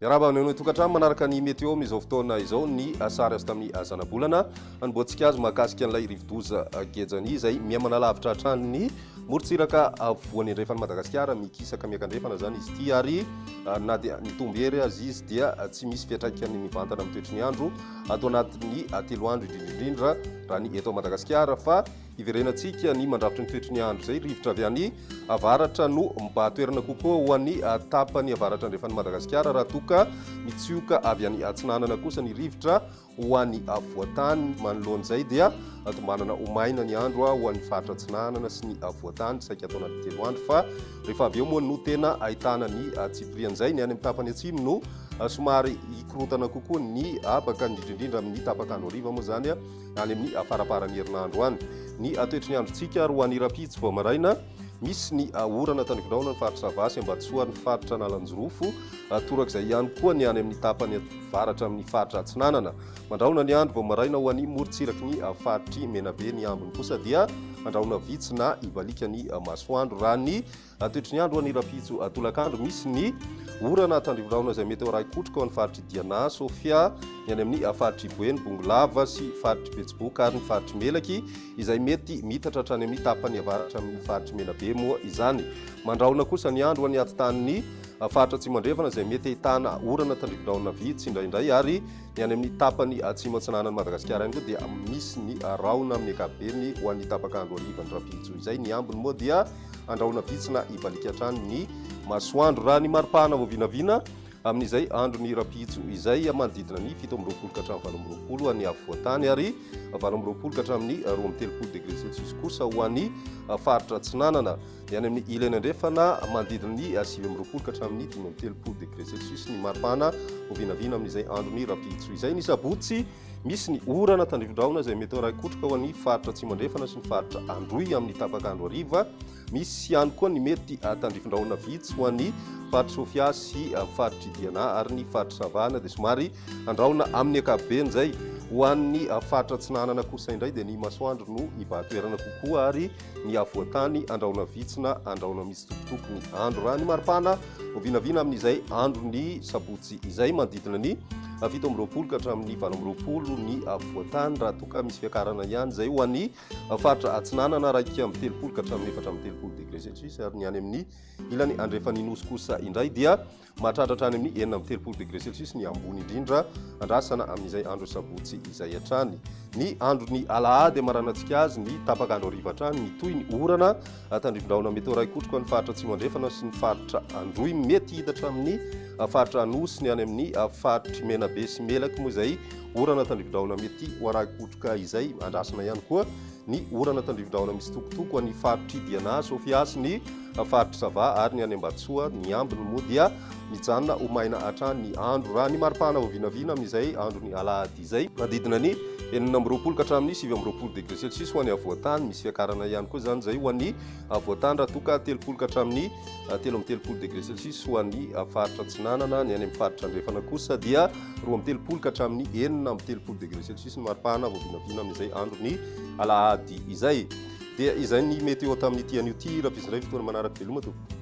Miarahaba amin'ireo tokantrano manaraka ny météo amin'izao fotoana izao ny sary azo tamin'ny zanabolana anomboantsika azy mahakasika an'ilay rivodoza gejany izay mihamana lavitra hatrany ny morontsiraka voan'ny andrefan'i Madagasikara mikisaka miakandrefana izany izy ity ary ah, na dia mitombo hery azy izy dia tsy misy fiatraikany mivantana amin'ny toetry ny andro ato anatin'ny telo andro indrindraindrindra raha ny eto Madagasikara fa hiverenantsika ny mandrafitry ny toetry ny andro izay rivotra avy any avaratra no mibahatoerana kokoa ho an'ny tapany avaratra andrefan'ny Madagasikara raha toka mitsioka avy any atsinanana kosa ny rivotra ho an'ny avoatany manoloan'izay dia tombanana ho maina ny andro ho an'ny faritra atsinanana sy ny avoatany saika ato anatin'ny telo andro fa Rehefa avy eo moa no tena ahitana ny tsipirian'izay. Ny any amin'ny tapany atsimo no somary hikorontana kokoa ny habaka, indrindra indrindra amin'ny tapak'andro hariva moa izany, any amin'ny faramparan'ny herinandro any. Ny toetry ny androntsika ary ho an'ny rahampitso vao maraina, misy ny orana tandrifin-drahona ny faritra Sava sy Ambatosoa ary ny faritra Analanjirofo, torak'izay ihany koa ny any amin'ny tapany avaratra amin'ny faritra Atsinanana. Mandrahona ny andro vao maraina ho any morontsiraky ny faritr'i Menabe. Ny ambiny kosa dia andrahona vitsy na hivalika ny masoandro. Raha ny toetry ny andro ho any Rafijo tolakandro, misy ny orana tandrivorahona izay mety ho arahi-kotroka ao amin'ny faritr'i Diana, Sofia, ny any amin'ny faritr'i Boeny, Bongolava sy faritr'i Betsiboka ary ny faritr'i Melaky izay mety miitatra hatrany amin'ny tapany avaratra amin'ny faritr'i Menabe moa izany. Mandrahona kosa ny andro ho any atintanin'ny faritra Atsimo Andrefana izay mety ahitana orana tandrivorahona vitsy indraindray ary Ny any amin'ny tapany atsimo atsinanan'i Madagasikara ihany koa dia misy ny rahona amin'ny ankapobeny ho an'ny tapaka andro harivan'ny rahampihitso izay. Ny ambiny moa dia andrahona vitsy na hibaliaka hatrany ny masoandro. Raha ny maripahana vao vinavina amin'izay andro ny rahampihitso izay manodidina ny fito amby roapolo ka hatramin'ny valo amby roapolo ho an'ny afovoantany ary valo amby roapolo ka hatramin'ny roa amby telopolo degré celsius kosa ho an'ny faritra atsinanana. Ny any amin'ny Ilany Andrefana, manodidina ny sivy amby roapolo ka hatramin'ny dimy amby telopolo degré Celsius ny maripana, ho vinavina amin'izay andron'ny rahampihitso izay. Ny sabotsy, misy ny orana tandrifin-drahona izay mety ho raikotroka ho an'ny faritra Atsimo Andrefana sy ny faritra Androy amin'ny tapak'andro hariva. Misy ihany koa ny mety tandrifin-drahona vitsy ho an'ny faritr'i Sofia sy faritr'i Diana ary ny faritr'i Savana dia somary handrahona amin'ny ankapobeny izay. Ho an'ny faritra Atsinanana kosa indray dia ny masoandro no hibahan-toerana kokoa ary ny avoantany andrahona vitsy na andrahona mitsitokotoko ny andro raha ny maripana ho vinavina amin'izay andro ny sabotsy izay manodidina ny fito amby roapolo ka hatramin'ny valo amby roapolo ny avoantany raha toa ka misy fiakarana ihany izay ho an'ny faritra atsinanana raika amby telopolo ka hatramin'ny efatra amby telopolo degré celsius ary ny any amin'ny ilany andrefan'ny nosy kosa indray dia Mahatratra hatrany amin'ny enina amby telopolo degré Celsius ny ambony indrindra andrasana amin'izay andro sabotsy izay hatrany. Ny andron'ny alahady hamaranantsika azy ny tapaka andro hariva hatrany mitohy ny orana tandrifin-drahona mety ho iray kotroko an'ny faritra atsimo andrefana sy ny faritra androy mety hidatra amin'ny faritra anosy ny any amin'ny faritry menabe sy melaky moa izay orana tandrifin-drahona mety ho aray kotroka izay andrasana ihany koa ny orana eto Andrividrahona misitokotoko any faritr'i Diana, Sofia sy ny faritr'i Sava ary ny any Ambatosoa. Ny ambiny moa dia mijanona ho maina hatrany ny andro. Raha ny maripana vao vinavina amin'izay andron'ny alahady izay, manodidina ny enina amby roapolo ka hatramin'ny sivy amby roapolo degre celsius ho an'ny havoantany. Misy fiakarana ihany koa izany izay ho an'ny havoantany raha toa ka telopolo ka hatramin'ny telo amby telopolo degré celsius ho an'ny faritra Atsinanana, ny any amin'ny faritra Andrefana kosa dia roa amby telopolo ka hatramin'ny enina amby telopolo degré celsius ny maripana vao vinavina amin'izay andron'ny alahady izay. Dia izay ny météo tamin'ity anio ity, raha iray fotoana manaraka veloma tompoko.